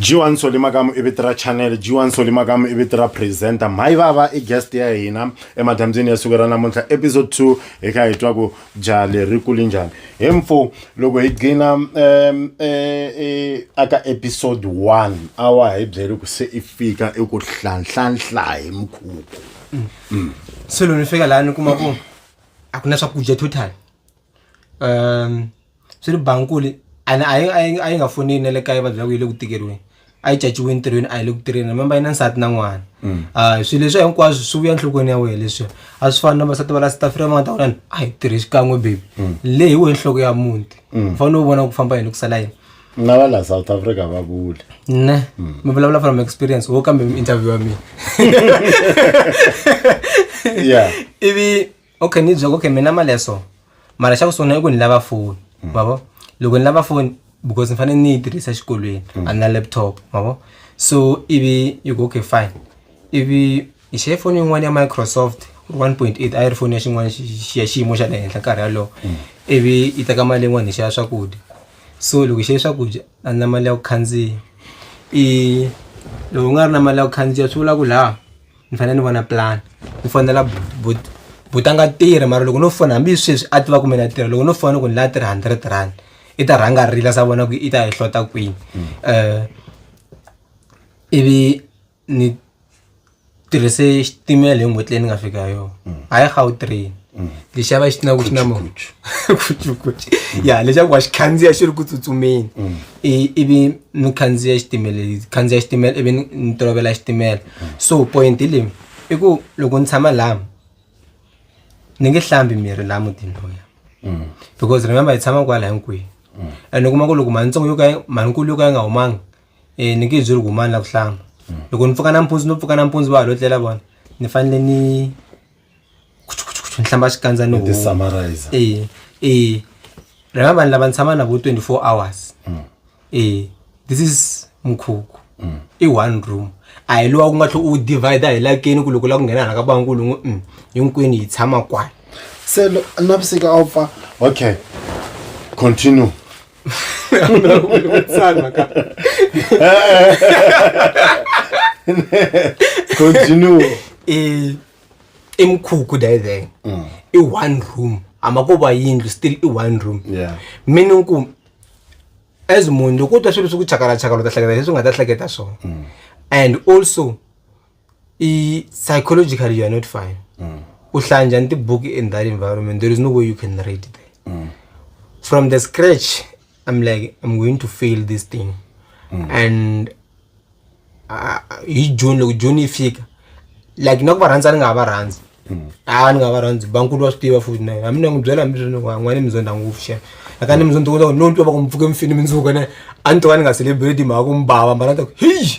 G1 Soli Makamu i vito ra channel G1 Soli Makamu i vito ra presenter mhayi vava i guest ya hina emadyambyini ya siku ra namuntlha episode 2 hi kha hi twa ku jaha leri kuli njhani hi mfo loko hi gcina um e, e, aka episode 1 a wa hi byeli ku se i fika i ku hlanhlanhla hi mukhuku mm. se loko ni fika laha ni kuma ku a ku na swakudya total swi ri bankulu a ne a yi a yi a yi nga foneli na le kaya va byela ku yi le ku tikeriweni a yi caciwe entirhweni a yi le ku tirheni remember yi na nsati na n'wana a swilo leswi hinkwaswo swi vuya enhlokweni ya wena leswi a swi fani na vasati va la south africa va nga ta vona ni a hi tirhi xikan'we baby le hi wehe nhloko ya muti u fanele u vona ku famba yini ku sala yini na va la south africa va vule ne mi vulavula from experience wo kambe interview ya mina yeah ivi okay ni byela okay mina mali ya so mara xa ku sungula i ku ni lava foni mm. ma vo loko ni lava foni because ni fanele ni yi tirhisa xikolweni mm. a ni na laptop ma vo so ivi yi ku okay fine ivi hi xeye foni yin'wana ya microsoft 1.8 a yi ri foni ya xin'wana ya xiyimo xa le henhla nkarhi yalowo mm. ivi yi teka mali yin'wana hi xava swakudya so loko hi xave swakudya a ni na mali ya ku khandziya i loko u nga ri na mali ya ku khandziya swi vula ku laha ni fanele ni vona plan ni fonela but but a nga tirhi mara loko no fona hambi sweswi a tiva kumbe na tirha loko no fona ku ni la tirha hundred rand i ta rhanga rila sa vona ku i ta hi hlota kwini um ivi ni tirhise xitimela hi n'hweti leyi ni nga fika ha yona mm. a yi gautrain mm. lexi ya va xi tina ku xi na mokuchukuchu mm. ya leswaku wa xi khandziya xi ri ku tsutsumeni ivi ni khandziya xitimela khandziya xitimela ivi ni tolovela xitimela so point leyi i ku loko ni tshama laha ni nge hlambi miri laha mutini loya mm. because remember hi tshama kwala hinkwenu mm. and u kuma ku loko manitsongo yo ka manikulu yo ka yi nga humanga um ni nge byeli ku humani la ku hlamba mm. loko ni pfuka nampundzu no pfuka nampundzu va ha lo tlela vona ni fanele ni ni hlamba xikandza ni e e rhema vanhu lava ni tshama na vo 24 hours mm. e this is mukhuku mm. i one room a hi lowa ku nga tlhe u divide hi lakeni ku loko la ku nghena hala ka bankulu n'wi mm, hinkwenu hi tshama kwala se navusiku a wu pfa okay continue continue e i mukhukhu diving mm. i one room hamba ko va yindlu still i one room yeah. meaning ku as munhu loko u twa swilo swi ku chakalachakala u ta hleketa leswi u nga ta hleketa swona mm. and also i psychologically youare not fine mm. u hlaya njhani tibuki in that environment there is no way you can read there mm. from the scratch I'm like, I'm going to fail this thing. Mm. And uh, hi june loko june yi fika like na ku va rhandza ni nga ha va rhandzi mm. a ah, ni nga va rhandzi bankulu wa swi tiva futhi naye hambi ni n'wi byela hambi swini n'wana mizondha nguvu xana aka ni mizondha kota ku no twa va ku mpfuke mfini mindzuka ne a ni to ka ni nga celebrate mhaka ku mbava mbana ta ku heyi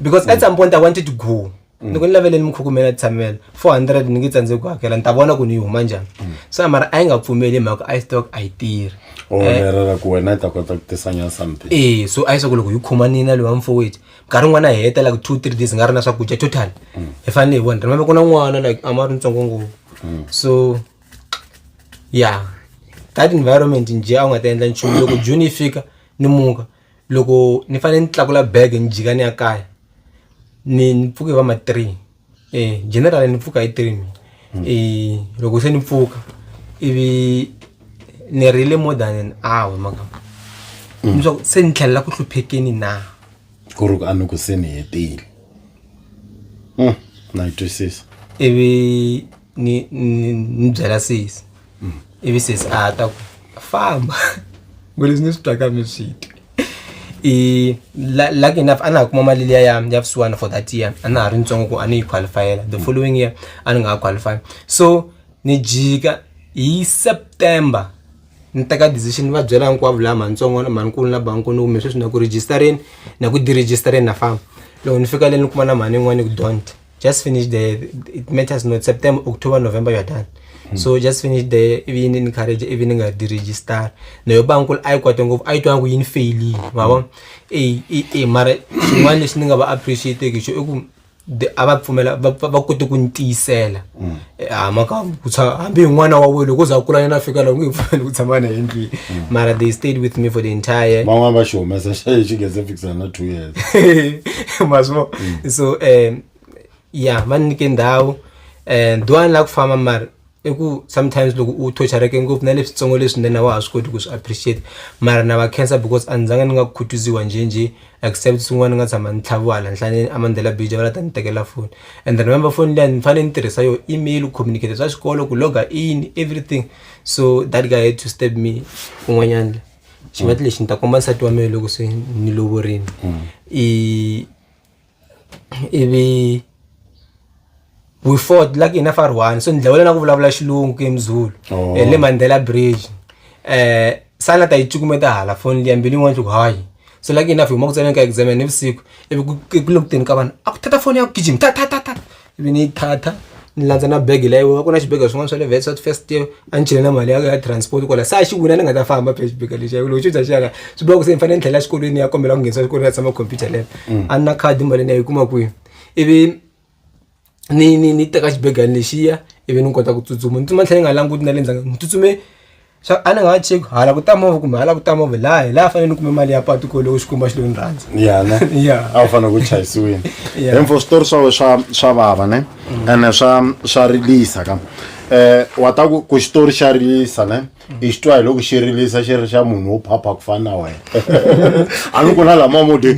because at some point i wanted to go ni ku ni lavele ni mi khukumela tshamela four hundred ni nge tsandzeki ku hakela ni ta vona ku ni yi huma njhani se mara a yi nga pfumeli hi mhaka i stock a yi tirhi o Eh, lerera ku wena i ta kota ku tisanya something ee so a yi swa ku loko hi khoma nina lowa mfowethu nkarhi wun'wana hi heta like two three days nga ri na swakudya total hi fanele hi vona remember ku na n'wana like a ma ri ntsongo ngopfu so ya that environment nje a wu nga ta endla nchumu loko june yi fika ni muka loko ni fanele ni tlakula bag ni jika ni ya kaya ni ni pfuke va ma three e general ni pfuka hi three mina hmm. e loko se ni pfuka ivi ni rile more than an hour maka hmm. leswaku se ni tlhelela ku hluphekeni na ku ri ku a ni ku se ni hetile hmm, na yi twisisa ivi ni ni ni byela sesi ivi sesi a ta ku famba ngo leswi ni swi twaka mi swi twi i la- lucky enough a na ha kuma mali liya ya ya vusiwana for that year a na ha ri ntsongo ku a ni yi qualifyela the following year a ni nga ha qualify so ni jika hi september ni teka decision ni va byela hinkwavo laha mantsongo na manikulu na bankulu kumbe sweswi na ku registereni na ku diregistereni na famba loko ni fika le ni kuma na mhani yin'wana ni ku don't just finish the it matters not september october november you're done mm. so just finish the ivi ini encourage ivi ni nga diregister nayo ba nkulu a yi kwate ngopfu a yi twa nga ku yi ni feyilile ma vona e e mara xin'wana lexi ni nga va appreciateki xo i ku a va pfumela va kote ku ni tiyisela mm. a mhaka ku tshama hambi hi n'wana wa wena loko u za u kula yena fika laha u nge pfumeli ku tshama na hi ndlwini mara they stayed with me for the entire van'wana va xi humesa xi xi nghenze fikisana na two years mazvo so um ya va ni nyike ndhawu um do a ni lava ku famba mara i ku sometimes loko u thochareke ngopfu na leswitsongo leswinene a wa ha swi koti ku swi appreciate mara na va cancer because a ni zanga ni nga khutuziwa njhenjhe except swin'wana ni nga tshama ni tlhaviwa hala nhlane a mandela bija va la ta ni tekela foni and remember foni liya ni fanele ni tirhisa yo email communicate swa xikolo ku loga in everything so that guy had to step me un'wanyana xi nga ti lexi ni ta komba nsati wa mina loko se ni lovorini i ivi we fought like hina far one so ni dlawela na ku vulavula xilungu ke mzulu oh. eh, le mandela bridge eh sana ta yi cukumeta hala foni liya mbilu yin'wana loko hayi so like hina fihuma ku tsaneni ka exam ni vusiku ivi ku le ku teni ka vanhu a ku thatha foni ya ku gijima tha tha tha tha ivi ni yi thatha ni landza na bege leyi wa ku na xibege swin'wana swa le vet south first year a ni chele na mali ya ya transport kwala sa xi wina ni nga ta famba phela xibege lexi loko xi bya xi yaka swi bula ku se ni fanele ni tlhela xikolweni ya kombela ku nghenisa xikolweni ya tshama computer leyo mm. a ni na khadi mali ni ya yi kuma kwihi ivi ni ni ni teka xibegana lexiya ivi ni kota ku tsutsuma ni tsutsuma ni tlhe ni nga languti na le ndzhaku ni tsutsume swa a ni nga ha cheki hala ku ta movha kumbe hala ku ta movha laha hi laha a fanele ni kume mali ya patu ku loko Xikwembu a xi lo ni rhandza ya ne Ya. a wu fanele ku chayisiwini Yeah. info switori swa we swa swa vava ne ene swa swa rilisa ka um wa ta ku ku xitori xa rilisa ne i xi twa hi loko xi rilisa xi ri xa munhu wo phapha ku fana na wena a ni ku na lama mo ti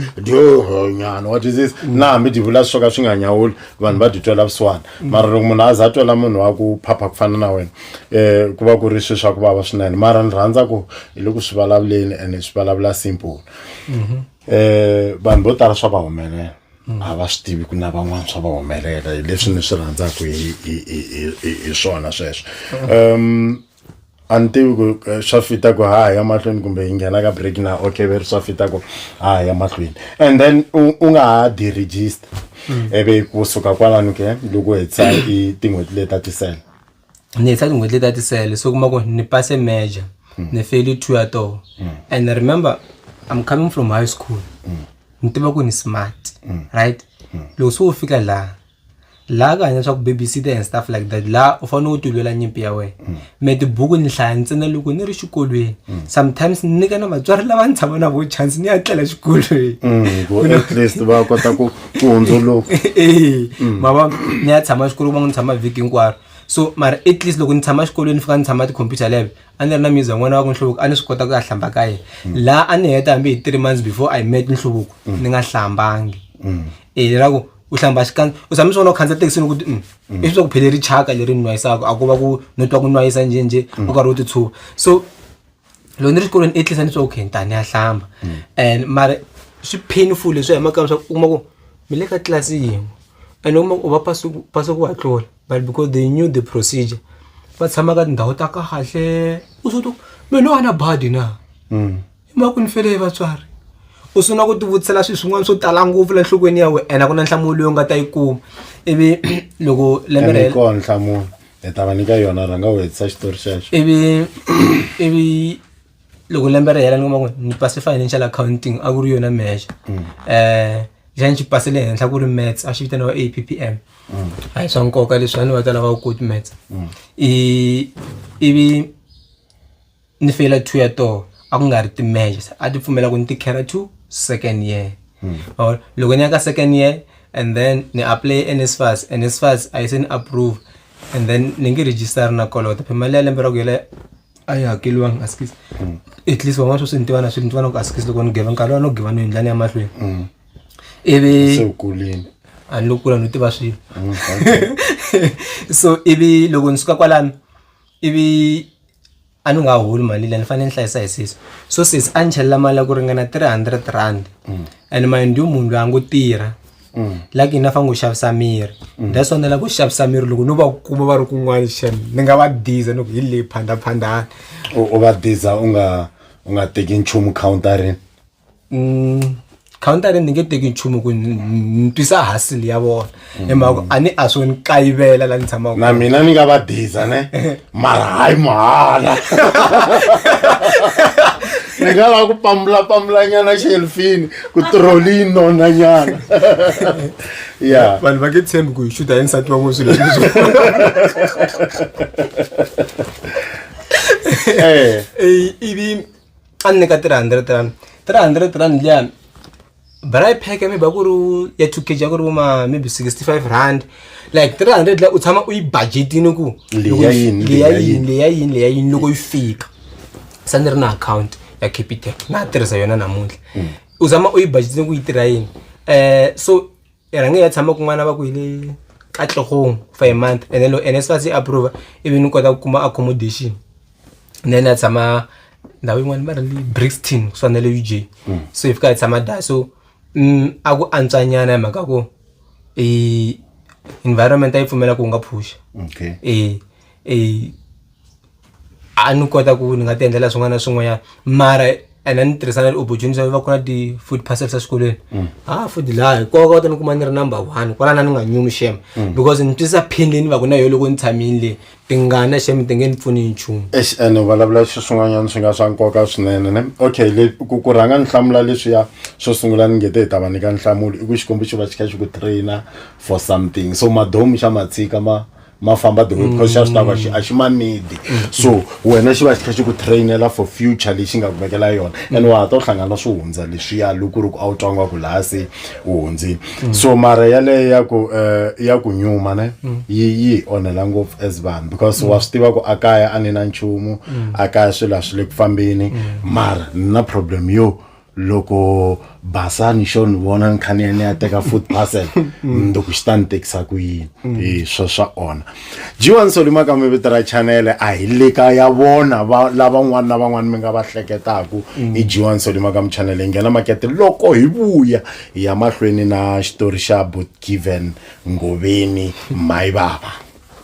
nyana wa twisisa na hambi ti vula swo ka swi nga nyawuli vanhu va ti twela vusiwana mara loko munhu a za twela munhu wa ku phapha ku fana na wena um ku va ku ri swi swa ku vava swinene mara ni rhandza ku hi le ku swi vulavuleni and swi vulavula simple um vanhu vo tala swa va humelela a va swi tivi ku na van'wana swa va humelela hi leswi ni swi rhandzaka hi hi- hi- hi- hi- hi swona sweswo um a ni tivi ku eh, swa fita ku ha ya mahlweni kumbe hi nghena ka break na okay veri swa fita ku ha ya mahlweni and then u u nga ha deregister ivi kusuka kwalano ke loko u hetisa i tin'hweti leti ta tisele ni heta tin'hweti leti a ti sele se u kuma ku ni pase major ni feli two ya toho and remember i'm coming from high school ni tiva ku ni smart right loko se u fika laha laha ka hanya swa ku babysitter and stuff like that laha u fanele u ti lwela nyimpi ya wena me tibuku ni hlaya ntsena loko ni ri xikolweni sometimes ni nyika na vatswari lava ni tshama na vo chance ni ya tlela xikolweni Mm, ku at least va kota ku ku hundzuluka e ma va ni ya tshama xikolweni va n'wi ni tshama vhiki hinkwaro so mara at least loko ni tshama xikolweni ni fika ni tshama ti-computer lab a ni ri na music n'wana wa ku nhluvuko a ni swi kota ku ya hlamba ka yena mm. laha a ni heta hambi hi three months before i met nhluvuko mm. ni nga hlambangi mm. e ra ku u hlamba xikandza u tshame swi vona u khandziya thekisini ukuthi mm, mm. i swi swa ku phele ri chaka leri nwayisaka a ku va ku no twa ku nwayisa njhenjhe u karhi u ti tshuva so loko ni ri xikolweni i tlisa ni swa okay ni ta ni ya hlamba and mara swi painful leswi ya makaya leswaku u kuma ku mi le ka tlilasi yin'we and u kuma ku u va pasi ku pasa ku va tlula but because they knew the procedure va tshama ka tindhawu ta kahle u swi ku me no va na badi na i mhaka ku ni fele hi vatswari u sungula ku tivutisela swilo swin'wana swo tala ngopfu la nhlokweni ya wena ene a ku na nhlamulo leyi u nga ta yi kuma ivi loko lembe ra hela nhlamulo hi ta va nyika yona rhanga u hetisa xitori xexo ivi ivi loko lembe ri hela ni kuma ku ni pase financial accounting a ku ri yona measure um xa ni xi pase le henhla ku ri mats a xi vitaniwa a p p m a hi swa nkoka leswi a ni va ta lava ku koti mats i ivi ni feyila two ya toho a ku nga ri timeje se a ti pfumela ku ni ti khera to second year hmm. or loko ni ya ka second year and then ni apply nsfas nsfas a yi se ni approve and then ni nge register na kolota phe mali ya lembe ra ku yela a yi hakeliwanga askis hmm. at least van'wana swo swi ni tivana swi ni tivana ku askis loko ni geva nkarhi wa no geva no yindlani ya mahlweni hmm. ivi a ni lo kula no tiva swilo so ivi loko ni suka kwalano ivi a ni nga holi mali leyi ni fanele ni hlayisa hi sesi so sesi a ni chelela mali ya ku ringana three hundred rand mm. and mind you munhu loyi a ngo tirha mm. like yini a fanele ku xavisa miri mm. that's why ni lava ku xavisa miri loko no va kuma va ri kun'wana xan ni nga va diza ni ku hi leyi phandaphandani u va diza u nga u nga teki nchumu counterini counter ni nge teki nchumu ku ni twisa hasil ya vona hi mhaka ku a ni a swo ni kayivela la ni tshamaka na mina ni nga va diza ne mara hayi mahala ni nga lava ku pambula pambula nyana xelfini ku tiroli yi nona nyana ya vanhu va ke tshembi ku hi xuta hi nsati wa n'wi swilo leswo eh ivi a ni nyika 300 rand 300 rand liya braai pack maybe a ku ri ya 2 kg a ku ri vo ma maybe 65 rand like 300 liya u tshama u yi budgetini ku loko Leya yi- yini, leya leya yini leya yini leya yini loko yi fika sa ni ri na account ya capitec na tirhisa yona namuntlha u zama u yi budgetini ku yi tirha yini um so e rhange ya tshama kun'wana va ku hi le katlhogong for a month and then lo ene se va se approve ivi ni kota ku kuma accommodation then a tshama ndhawu yin'wana va ri le brixton kusuka na le u j mm. so hi fika hi tshama da so mm, a ku antswanyana hi mhaka ku environment a yi pfumela ku u nga phusha okay. e, e, a ni kota ku ni nga ti endlela swin'wana na swin'wanyana mara and a ni tirhisa na ti-opportunity va ku na ti-food parcels exikolweni mm. ha food laha hi koka ta ni kuma ni ri number one kwalana ni nga nyumi shem mm. because ni twisa pain leyi ni va ku na yo loko ni tshamini leyi tingana shem ti nge ni pfuni hi nchumu ex and vulavula swi swin'wanyana swi nga swa nkoka swinene ne okay le ku ku rhanga ni hlamula leswiya swo sungula ni ngete hi ta va nyika nhlamulo i ku xikwembu xi va xi kha xi ku trainer for something so madomu xa matshika ma ma famba the way mm. because xa swi tava a xi ma need mm. so wena xi va xi tlhe xi ku trainela for future lexi nga kumekela yona mm. and wa ha ta u hlangana na swi hundza leswiya loko ri ku a wu twangiwa ku laha se u hundzile so mara yaleyo ya ku eh, ya ku nyuma ne yi yi onhela ngopfu as vanhu because wa swi tiva ku a kaya a ni na nchumu a kaya swilo a swi le ku fambeni mara ni na problem yo loko basa ni xo ni vona ni kha ni ya ni ya teka food parcel mm. loko xi ta ni tekisa ku yini mm. hi swo swa ona jiwani solima ka mi vito ra chanele a hi le ka ya vona lavan'wana na van'wana mi nga va hleketaku mm. hi jiwani solima ka michanele hi nghena makete loko hi vuya hi ya mahlweni na xitori xa bot given ngoveni mayi vava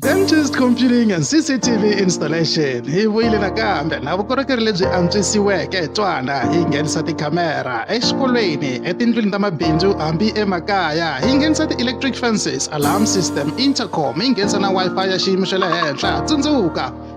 Dentist Computing and CCTV Installation hi vuyile nakambe na vukorhokeri lebyi antswisiweke twana hi nghenisa tikhamera exikolweni etindlwini ta mabindzu hambi emakaya hi nghenisa ti-electric fences alarm system intercom hi nghenisa na wi-fi ya xiyimo xa le henhla tsundzuka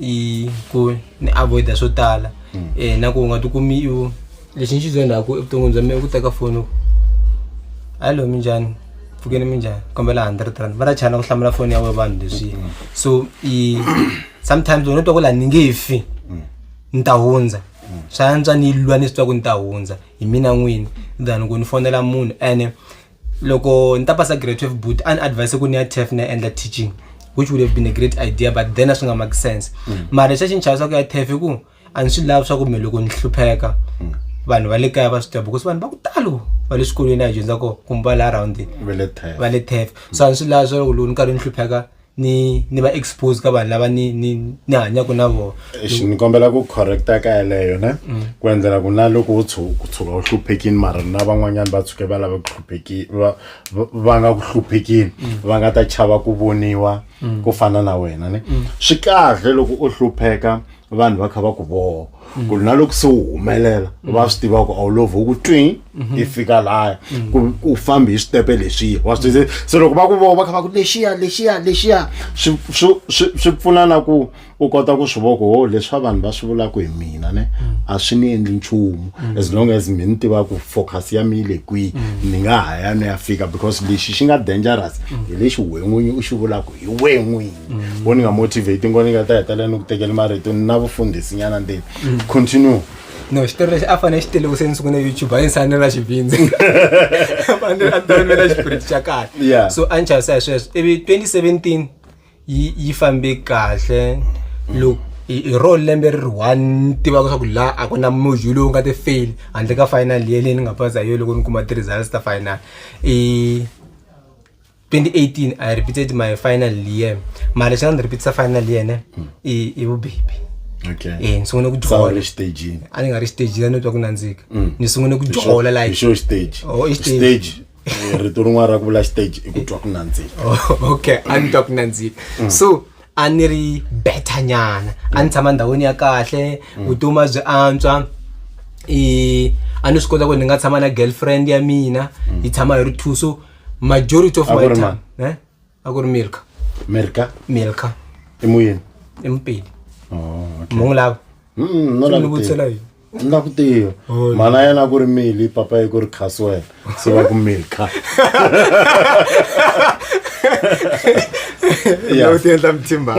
i ku ni avoida swo tala um na ku u nga ti kumi u lexi ni xi zondaku evuton'wini bya mina i ku teka foni hallo minjhani pfukeni minjhani kombela hundred rand va ta chana ku hlamula foni ya we vanhu leswiya mm. so i sometimes wena twa ku laha ni nge fi mm. ni ta hundza mm. swa antswa ni lwa ni swi twa ku ni ta hundza hi mina n'wini than ku ni fonela munhu ene loko ni ta pasa grade 12 but a ni advise ku ni ya tef ni ya endla teaching which would have been a great idea but then a swi nga make sense mm. mara lexi a xi ni chava swa ku ya tef i ku a ni swi lavi swa ku me loko ni hlupheka mm. vanhu va le kaya va swi tiva because vanhu va ku talo va le swikolweni a hi dyondza ko kumbe va la around va le tef so a ni swi lavi swa loko loko ni karhi ni hlupheka ni ni va expose ka vanhu lava ni ni ni hanyaka na vona Eish, ni kombela ku correcta ka yeleyo ne ku endlela ku na loko u tshu- ku tshuka u hluphekini mara na van'wanyana va tshuke va lava ku hlupheki va va- va nga ku hluphekini va nga ta chava ku voniwa ku fana na wena ne swi kahle loko u hlupheka vanhu va kha va ku voho ku ri na loko se wu humelela va swi tiva ku a wu lovhi wu ku twi i fika laya ku- ku fambi hi switepe leswiya wa swi tiva se loko va ku voho va kha va ku lexiya lexiya lexiya swi swi- swi- swi pfuna na ku u kota ku swi vona ku ho leswi vanhu va swi vulaka hi mina ne a swi ni endli nchumu as long as mi ni tiva ku focus ya mi yi le kwihi ni nga ha ya ni ya fika because lexi xi nga dangerous hi lexi wen'winyi u xi vulaka hi wen'winyi mm. wo ni nga motivate ngo ni nga ta hetelela ni ku tekela marito ni na vufundhisi nyana ndeni mm. continue no xitori lexi a fanele xi teleku se ni sungune youtube a yi nsani na xivindzi fanele a tani na xipiriti xa kahle so a ni chavisa hi sweswo ivi 2017 yi yi fambe kahle loko hi ro lembe ri ri one ni tivaka swa ku laha a ku na module lowu nga ti fail handle ka final ye leyi ni nga pasa hi yo loko ni kuma ti-results ta final i 2018 i repeated my final year mara lexi nga ndzi repeatisa final year ne hmm. i i vubebi okay eh ni sungule ku dyola ri stage a ni nga ri stage la ni twa ku nandzika hmm. ni sungule ku dyola like show stage oh stage eh, rito rin'wana ra ku vula stage i ku twa ku nandzika oh, okay a ni twa ku nandzika hmm. so a ni ri better nyana a ni tshama ndhawini ya kahle vutomi byi antswa i a ni swi kota ku ni nga tshama na girlfriend ya mina yi tshama hi ri two so majority of my Agora, time eh agora milka merka milka emuyeni empili oh, okay. mungu lava Mm, no la Ndzi ku tiva. vutisela yini? Ndzi la ku tiva Oh, mana yena a ku ri mili papa yi ku ri khasi wena se va ku milka Yeah. Loko ti endla mithimba.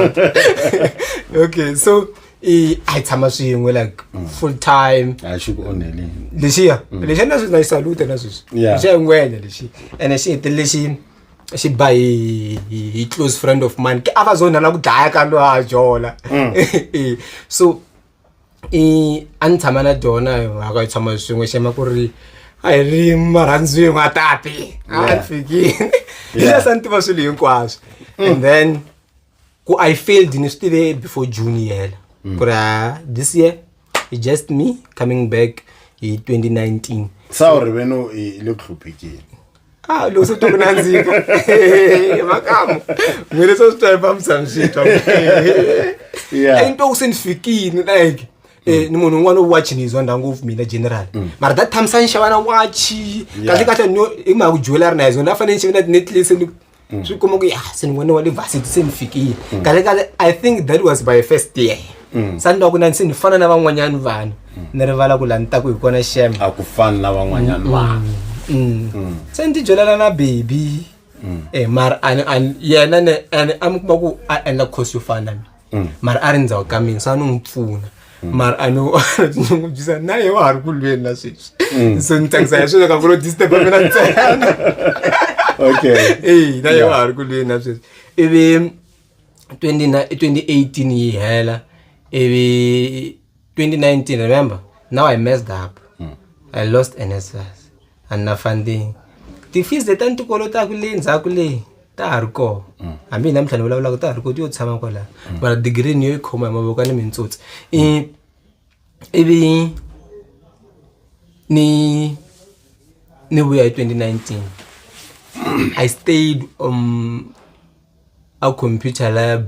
okay so i a hi tshama swin'we like mm. full time a xi ku onheli lexiya mm. lexiya na na yi salute na sweswi lexiya ngwenya lexi ene xi hetele lexi xi ba hi hi close friend of mine a va zona la ku dlaya ka lo a jola mm. e, so i a ni tshama na dyona a ka yi tshama swin'we xema ku ri a hi ri marhandziwin'we a tapi a ni fikile lexi a sa ni tiva swilo hinkwaswo and then ku i failed ni swi tive before june yi hela mm. ku ri ah, this year i just me coming back hi 2019 sa u ri veno i le ku hluphekeni Ah, lo se toko nandzika makamo ngwele so sitwa mphamsana shitwa yeah into usendifikini like eh ni munhu un'wana u watch ni yizwa ndhawu ngopfu mina general mm. mara that time sa ni xava na watch kahle kahle ni hi mhaka ku jewellery na yizona a fanele ni xave na ti-necklace ni mm. swi kuma ku ya se ni n'wana wa le varsity se ni fikile mm. kale kale i think that was by first year mm. sa ni loko na ni se ni fana na van'wanyana vanhu mm. ni rivala ku la ni ta ku hi kona xem a ku fani na van'wanyana mm, vanhu mm. mm. se ni tijolela na baby mm. e mara yena ni a mi kuma ku a endla course yo fana na mina mm. mara a ri ndzhawu ka mina sa ni n'wi pfuna mm. mara a no a tinyungubyisa na ye wa ha ri ku lweni na sweswi mm. so ni tsakisa hi sweswo ka ku lo disturba mina ntsena okay e na ye wa ha ri ku lweni na sweswi ivi 2018 yi hela ivi 2019, remember? Now I messed up. Mm. I lost NSFAS. And na funding. The fees that I'm to call it, I'm going to call it. ta ha ri kona mm. hambi hina mintlhanu vulavulaka ta ha ri koti yo tshama kwalaha mm. mara digiri ni yo yi khoma hi mavoko ni mintsotsi mm. ivi ni ni vuya hi 2019 i stayed um a computer lab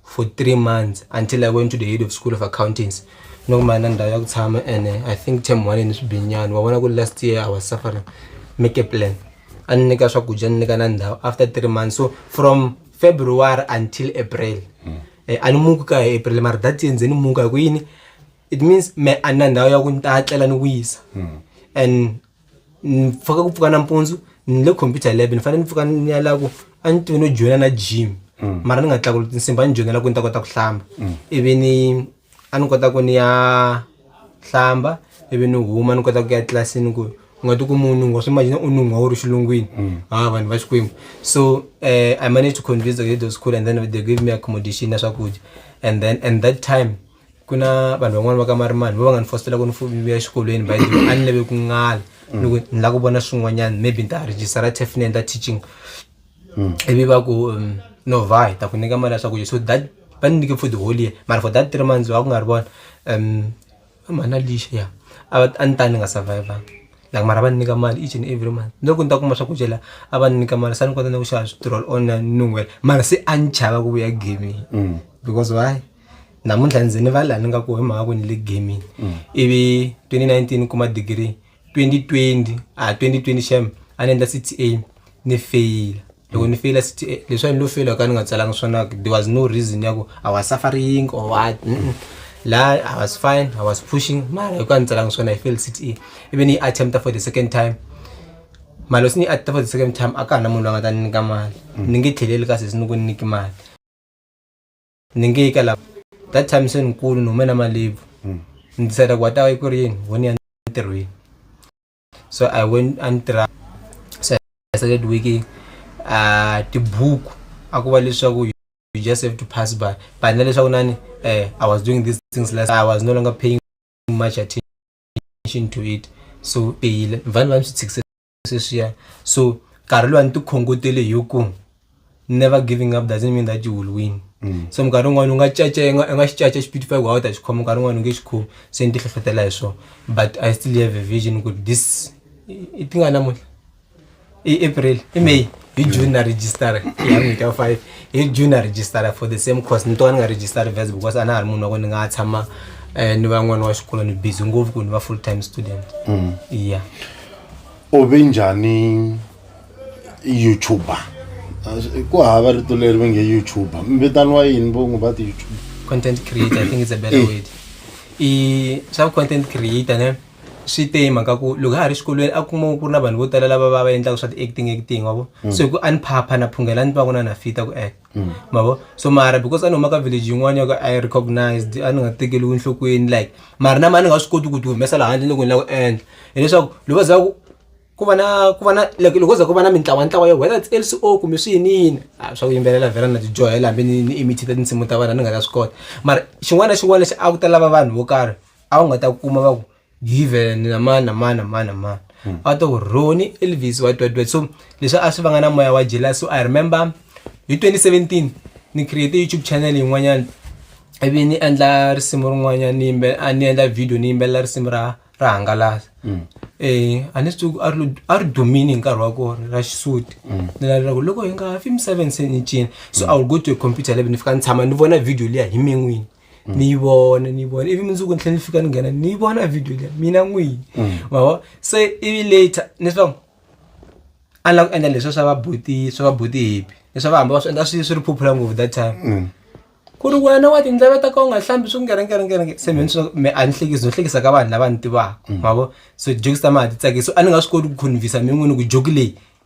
for three months until i went to the head of school of accountants no kuma na ndhawu ya ku tshama ene i think term one ni swibinyani wa vona ku last year i was suffering make a plan a ni nyika swakudya ni nyika na ndhawu after three months so from february until april eh, a ni muki ka hi april mara that year ndze ni muka hi ku yini it means me a ni na ndhawu ya ku ni ta tlela ni wisa and ni pfuka ku pfuka nampundzu ni le computer lab ni fanele ni pfuka ni ya la ku a ni tivi no joyina na gym mara ni nga tlakuli tinsimba a ni joyinela ku ni ta kota ku hlamba ivi ni a ni kota ku ni ya hlamba ivi ni huma ni kota ku ya tlilasini ku u nga ti ku munhu swi imagine u nun'wa wu ri xilungwini ha vanhu va xikwembu so eh, i managed to convince the head of school and then they gave me accommodation na swakudya and then and that time ku na vanhu van'wani va ka marimani vo va nga ni fositela ku ni fuvivi exikolweni by the a ni lave ku ngala ni ku ni lava ku vona swin'wanyana maybe ni ta rejistara tef ni endla teaching ivi va ku um, no va hi ta ku nyika mali ya swakudya so that va ni nyike for the whole year mara for that three months va ku nga ri vona um mhana lixa ya a va- a ni ta ni nga survivanga like mara va ni nyika mali each and every month loko ni ta kuma swakudya la a va ni nyika mali sa ni kota na ku xava switirol on nungwela mara se a ni chava ku vuya gaming because why namuntlha ndzi ni va laha ni nga ku hi mhaka ku ni le gaming mm. ivi 2019 kuma degree 2020 a 2020 xem a ni endla cta ni feyila loko ni feyila cta leswi a ni lo feyila ka ni nga tsalanga swona there was no reason ya ku i was suffering or what mm -mm. la i was fine i was pushing mara hi ku a ni tsalanga swona hi fail cta ivi ni yi attempta for the second time mali loko se ni yi attempta for the second time a ka ha na munhu loyi a nga ta ni nyika mali mm. ni nge tlheleli kasi se ni ku ni nyiki mali ni nge yi ka lava that time se ni kulu ni hume na malebvu hmm. ni decide ku wa ta yi ku ri yini wo ni ya ntirhweni so i went a ni tirha so i started working uh, tibuku a ku va leswaku you just have to pass by but na leswaku nani eh, i was doing these things last i was no longer paying much attention to it so peyile vanhu va ni swi tshikisela sweswiya so nkarhi loyi a ni ti khongotele hi ku never giving up doesn't mean that you will win mm. so minkarhi yin'wana u nga caca i nga xi caca xipiti five wa u ta xi khoma nkarhi yin'wana u nge xi khomi se ni ti hlohlotela hi swona but i still have a vision ku this i ti nga namuntlha i april i may hi mm. june na registara ya n'hweti ya five hi june na registara for the same course ni tova ni nga registari vest because a na ha ri munhu wa ku ni nga tshama um ni van'wana wa xikolo ni busy ngopfu ku ni va full time student mm. ya u ve njhani youtuber ku hava rito leri ve nge youtuber mvitaniwa yini vo n'wi va ti-youtube content creator i think it's a better eh. word i swa content creator ne swi te hi mhaka ku loko ha ha ri xikolweni a kuma ku ri na vanhu vo tala lava va va endlaka swa ti-acting acting wavo mm. so hi ku a ni phapha na phunghela ni twa ku na na fita ku act mm. mavo so mara because a ni humaka village yin'wana ya ku i recognized a ni nga tekeliwi enhlokweni like mara na ma ni nga swi koti ku ti humesa laha handle ni ku ni la ku endla hileswaku loko va za ku ku va na ku va na like loko za ku va na mintlawantlawa yo whether it's lco kumbe swi yini yini a swa ku yimbelela vhela na tijohela hambi ni ni imitita tinsimu ta vana ni nga ta swi kota mara xin'wana na xin'wana lexi a ku ta lava vanhu vo karhi a wu nga ta kuma va ku given na mani na mani na mani na mani hmm. a to roni elvis wa twatwa so leswi a swi vanga na moya wa jealous so i remember hi 2017 ni create youtube channel yin'wanyana ivi ni endla risimu rin'wanyana ni yimbe a ni endla video ni yimbelela risimu ra ra hangalasa um hmm. eh, a ni swi tivi a ri dumini hi nkarhi wa kona ra xisuti hmm. ni lavela ku loko hi nga fi misaveni se ni cina so i will go to a computer lab ni fika ni tshama ni vona video liya hi min'wini mm. ni yi vona ni yi vona ivi mundzuku ni tlhela ni fika ni nghena ni yi vona video leyi mina n'wini mm. mavo se ivi later ni swa a ni lava ku endla leswi swa vabuti swa vabuti hipi leswi va hamba va swi endla swi swi ri phuphula ngopfu that time mm. ku ri wena wa tindleve ta ka u nga hlambi swi ngerengerengerenge se mina swi me a ni hlekisi no hlekisa ka vanhu lava ni tivaka mavo so jokes ta ma ha ti tsakisi a ni nga swi koti ku convinsa mi n'wini ku joki leyi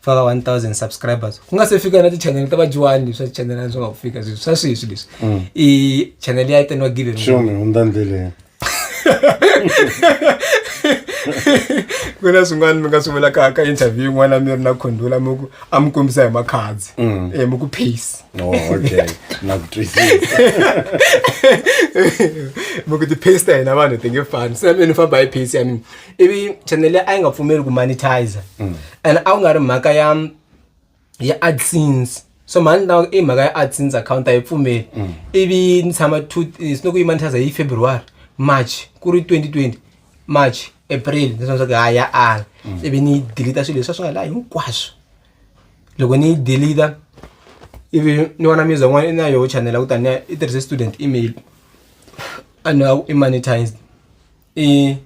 faka 1000 subscribers ku nga se fika na tichanele ta vadyuwani leswi tichanele a swi nga ku fika sweswi swa sweswi leswi mm. i chanele ya itaniwa given shomi hundza ndleleni ku na swin'wana mi nga swi vulaka ka interview yin'wana mi ri na khondula mi ku a mi kombisa hi makhadzi um mm. eh, mi ku pace oh, mi ku ti-pace ta hina vanhu ti nge fani se mi ni famba hi pace ya mina ivi channel leyi a yi nga pfumeli ku monetizer mm. and a ku nga ri mhaka ya ya adsense so mhani na i mhaka ya adsense account a yi pfumeli mm. ivi ni tshama two eh, sinoku yi monetizer hi february march ku ri 2020 march april ni swa swaku ha ya ala mm. ivi ni yi deleta swilo leswi a swi nga laha hinkwaswo loko ni yi deleta ivi ni vona music n'wana i na yoho channel a ku taniya i tirhise student email a ni a ku i monetized i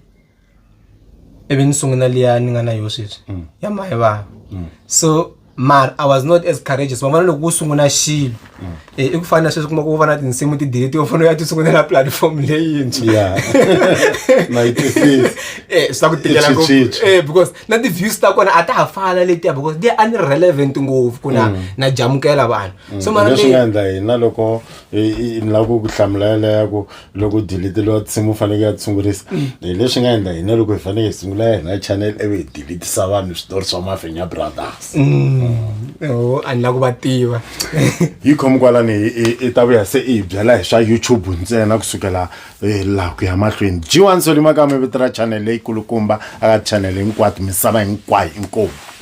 ivi ni sungula liya ni nga na yo sweswi mm. ya mahe vava mm. so mara i was not as courageous van'wana loko u sungula xilo mm. eh, i ku fana na sweswi kuma ku va na tinsimu tideleti yo fanele u ya ti sungulela platform leyintshwa eh, swi ta ku tikela eh, because na ti-views ta kona a ta ha fana letiya because they are unrelevant ngopfu ku na mm. na jamukela vanhu mm. so maraleswi nga endla hina loko ni lava ku ku hlamula yeleya ku loko diliteliwa nsimu faneke ya tshungurisa hi leswi nga endla hina loko hi faneke hi sungula ya hina channel ivi hi dilitisa vanhu switori swa mafenya brothers o a ni la ku va tiva yi khomi kwalani i- i- i ta vuya se i hi byela hi swa youtube ntsena kusukela eh, laha ku ya mahlweni g1 solimakame vito ra channel leyikulukumba aka channel hinkwato misava hinkwayo inkomu